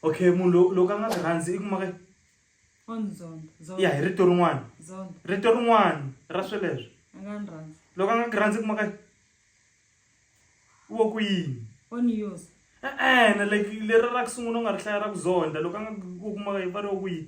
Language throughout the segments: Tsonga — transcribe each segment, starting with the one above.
okay munhu lo loko a nga swi rhandzi i kuma ka ya hi rito rin'wana rito rin'wana ra sweleswo loko a nga ku rhandzi i kuma ka wo ku yini e-e-ne like leri ra ku sungula u nga ri hlaya ra ku zonda loko a nga ku kuma ka yi va ri wo ku yini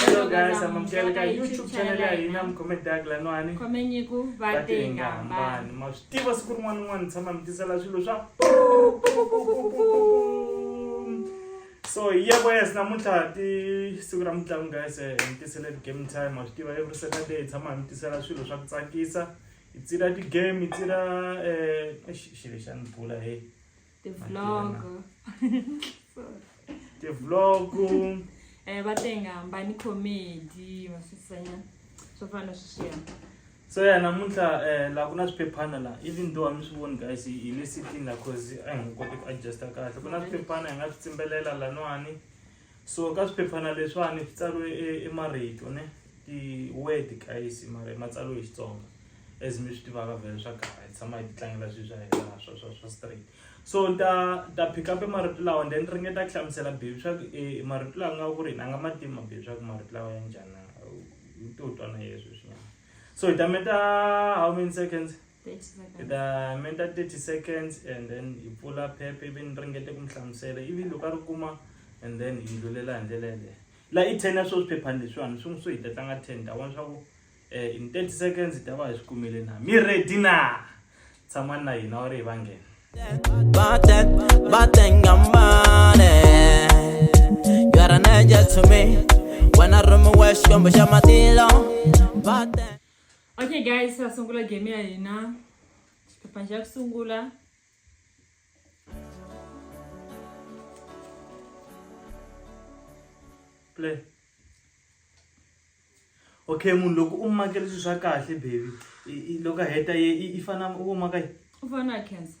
Hello guys, amamkeleka YouTube channel ya hina mukomedi agla no ani khomenyiko vatengambani ma swi tiva siku rin'wana rin'wana ni tshama mi tisela swilo swa so hi yebo yes namuntlha ti siku ra mitlangu guys eh, hi mi tisele ti-game time ma swi tiva every saturday hi tshama hi mi tisela swilo swa ku tsakisa hi tsira ti-game hi tsira um xilo xa ni bula he ti vlog ti vlog eh va tenga hambani comedy masisanya swo fana sweswiya so ya namuntlha um laha ku na swiphephana laha even though a mi swi voni guys hi le sitini laha cause a hi nga koti ku adjusta kahle ku na swiphephana hi nga swi tsimbelela laniwani So ka swiphephana leswiwani swi tsariwe e, e marito ne ti-word guys mara ma tsariwe hi Xitsonga as mi swi tivaka vhele swa kala hi tshama hi ti tlangela swilo swa hina swa swa swa straight so ni ta ta pick up marito lawa then ringeta ku hlamusela baby swa ku e marito lawa nga ku ri a nga ma tivi mababy swa ku marito lawa ya njhani u to twa na yeswo swinyama so hi ta meta how many seconds hi ta menta 30 seconds and then hi pfula phephe ivi ni ringete ku mi hlamusela ivi loko a ri kuma and then hi ndlulela hi ndlela yeleyo la i ten ya swo swiphephani leswiwani swi n'wi swi hi ta tlanga ten ta vona swa ku um in 30 seconds hi ta va hi swi kumile na mi ready na tshamani na hina wa ri hi va nghena You're an angel to me. When I run my way, she come, but you're my dealer. Okay guys, sa sungula game ya hina. Xiphephana xa ku sungula. Play. Okay, munhu loko u makela swilo swa kahle baby, i- i- loko a heta ye i- i fana u maka yi. U fana na cancer.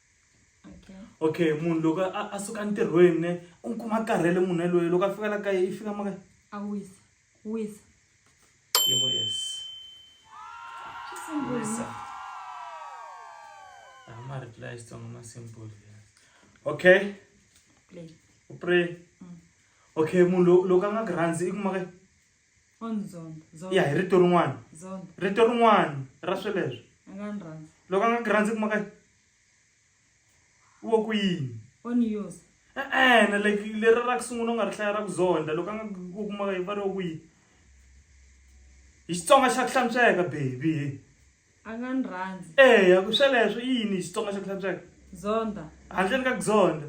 okay munhu loko a suka ntirhweni ne u n'wi kuma karhele munhu yaloye loko a fika la kaye i fika maka a wisa wisa yebo yes wisa ama reply sitsongo ma simple okay u pray mm. okay munhu loko a nga ku rhandzi i kumaka ya hi rito rin'wana rito rin'wana ra sweleswo loko a nga ku rhandzi kuma ka wo ku yini e-ene like leri ra ku sungula u nga ri hlaya ra ku zonda loko a nga ku kuma ka yi va ri wo ku yini hi xitsonga xa ku hlantsweka baby a nga ni rhandzi eya ku sweleswo i yini xitsonga xa ku hlantsweka zonda handleni ka ku zonda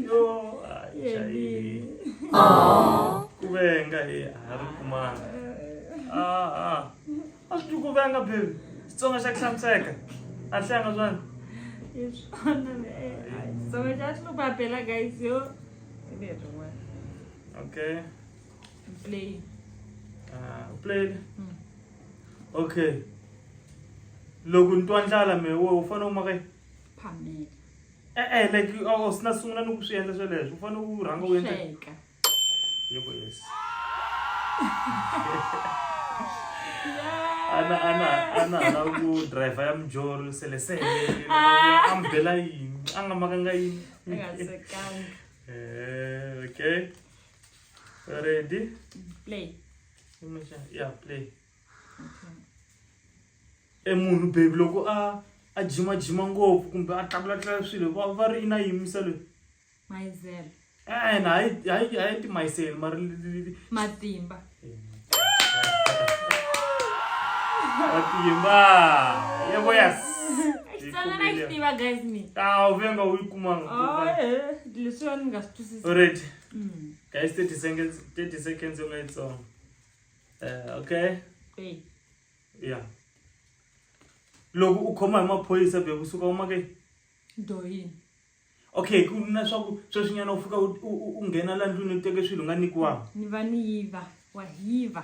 yo ku venga hi a ri kumanga a a swi ku venga baby xitsonga xa ku hlantsweka a hlanga swani i swona xitsonga xa xi lupapela guys yo okay play uh, play mm. okay loko ni twa ndlala me we u fanele u maka phamela e-e like u sina sungula ni ku swi endla sweleswo u fanele u rhanga u endla yebo yes ana ana ana ana ku driver ya mjolo sele sele ah. ambela yini anga makanga yini eh okay ready play ya play e munhu baby loko a a jimajima ngopfu kumbe a tlakulatlula swilo va va ri na yimisa loyi mayizele ena hayi hayi hayi timayisele mari matimba matimba yebo yes tiva guys me a ah, u venga u yi kumanga leswiwa ni nga swi twisisi alright mm. Guys, 30 seconds, 30 seconds on its own. Uh, okay? Hey. Yeah. Loko u khoma hi maphorisa be ku suka uma ke? Do yini? Okay, ku na swa ku sweswinyana u fika u nghena la ndlwini u teke swilo nga nikiwa. Ni va ni yiva, wa yiva.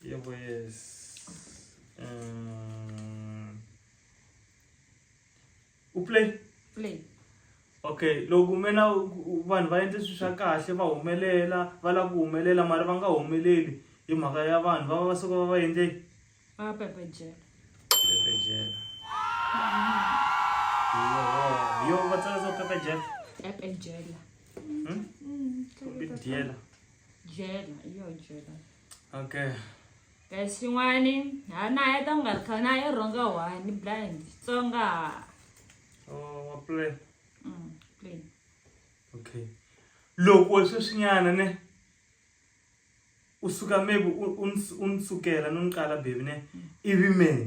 Yo pues... Um, u play play okay loko mina vanhu va endle swilo swa kahle va humelela va lava ku humelela mara va nga humeleli hi mhaka ya vanhu va va va suka va va endle va pepejela pepejela yo va tsala so pepejela pepejela hmm? hmm, dyela dyela yo dyela okay guys swin'wani ha na ya ta nga kha na ya rhonga one blind xitsonga oh wa play mm play okay loko sweswinyana ne usuka maybe unisukela noniqala baby ne ivi mina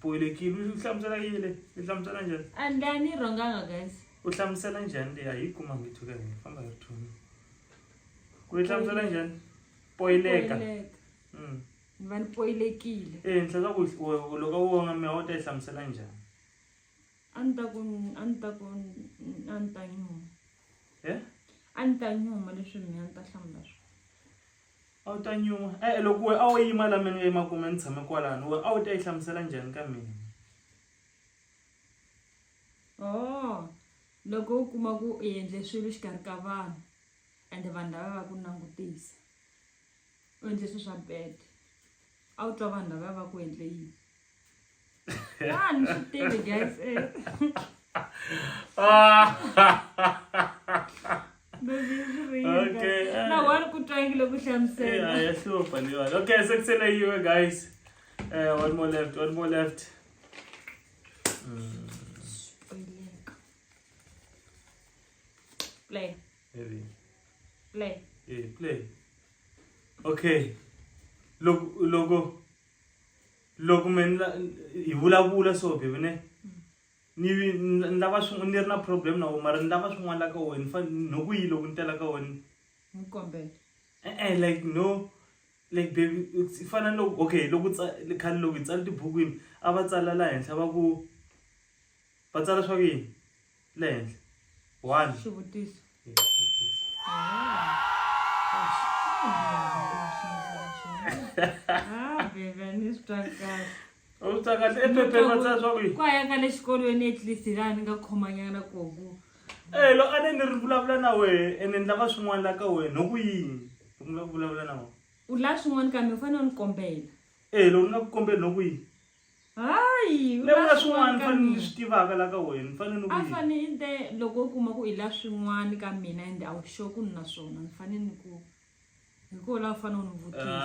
bohelekile u hlamusela yile i hlamusela njhani a ni a ni rhonganga guys u hlamusela njhani leyi a yi kuma ngitho ka hina famba hi ri thoni ku yi hlamusela njhani poyileka Poyileka. Mm. ni va ni poyilekile ehenhla ka ku u- loko wo nga mehe u ta yi hlamusela njhani a ni ta ku a ni ta ku a ni ta nyuma e a ni ta nyuma leswi mina ni ta hlamula swona A wu ta nyuma? E-e, loko wena a wo yima laha mina ni nga yima kona ni tshame kwalano, wena a wu ta yi hlamusela njhani ka mina? Oo, loko u kuma ku u endle swilo exikarhi ka vanhu ende vanhu lava va ku langutisa, u endle swilo swa bad. a wu twa vanhu lavaya va ku endle yini vanhu swi tele guys eh. okay na wani ku twangile ku hlamusela ya hlupha leyiwani okay se kusele yiwe guys uh, one more left one more left mm. play Heavy. Play. Hey, play. Okay. Loko loko loko me hi vulavula so baby ne ni ni lava swin'wana ni ri na problem na wena mara ni lava swin'wana la ka wena fa no ku yi loko ni tela ka wena n'wi kombela e-e like no like baby i fana ni loko okay loko khale loko hi tsala tibukwini a va tsala laha henhla va ku va tsala swa ku yini le henhla one xivutiso utakati ephepheni va tsaya swaku ku ayaka le xikolweni at least laha ni nga khomanyana koku e lo a ne ni ri vulavula na wehe ene ni lava swin'wana la ka wena hi ku yini ni lava ku vulavula na wena u la swin'wana kambe u fanele u ni kombela e lo ni nga ku kombeli hi ku yini hayi u levula la swin'wana swin'wana ka fanele ni mina swi tivaka la ka wena ni fanele ni ku a yini fane i te loko u kuma ku i la swin'wana ka mina ende a wu sure ku ni na swona ni fane ni ku hi koho la u fane u ni vutisa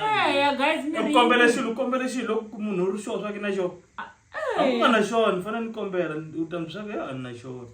Ah. eya guys mi ri- kombele xilo kombele xilo loko munhu u ri xona swa ke na xona a ku nga na xona ni fanele ni kombela u ta mi swa ku ya a ni na xona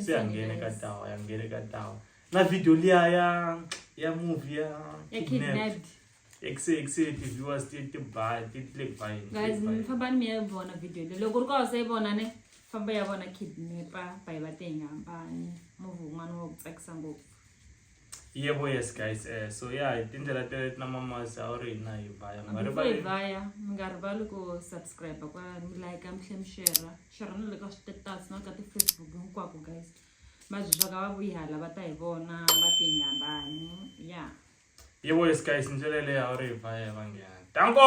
se a nghene ka tawa ya nghene ka tawa na video liya ya ya movie ya ya kidnapped ekse ekse ti viewers ti ti ba ti ti le ba yini guys mi famba ni mi ya vona video leyi loko ri ka wasa yi vona ne famba ya vona kidnapper ba yi va te hi nga hambani movie wun'wana wa ku tsakisa ngopfu Yebo yes guys eh so yeah hi tindlela teleto na mamasi a wu ri hina hi vaya mi nga before hi rivali vaya mi nga rivali ku subscribe kwa mi like mi tlhe mi share share na le ka switetasi na ka ti-facebook hinkwako guys mabyi swa ka va vuyi hala va ta hi vona va ti hi ngambani ya yebo yes guys ndlela leyi a wu ri hi vaya hi vanghena tanko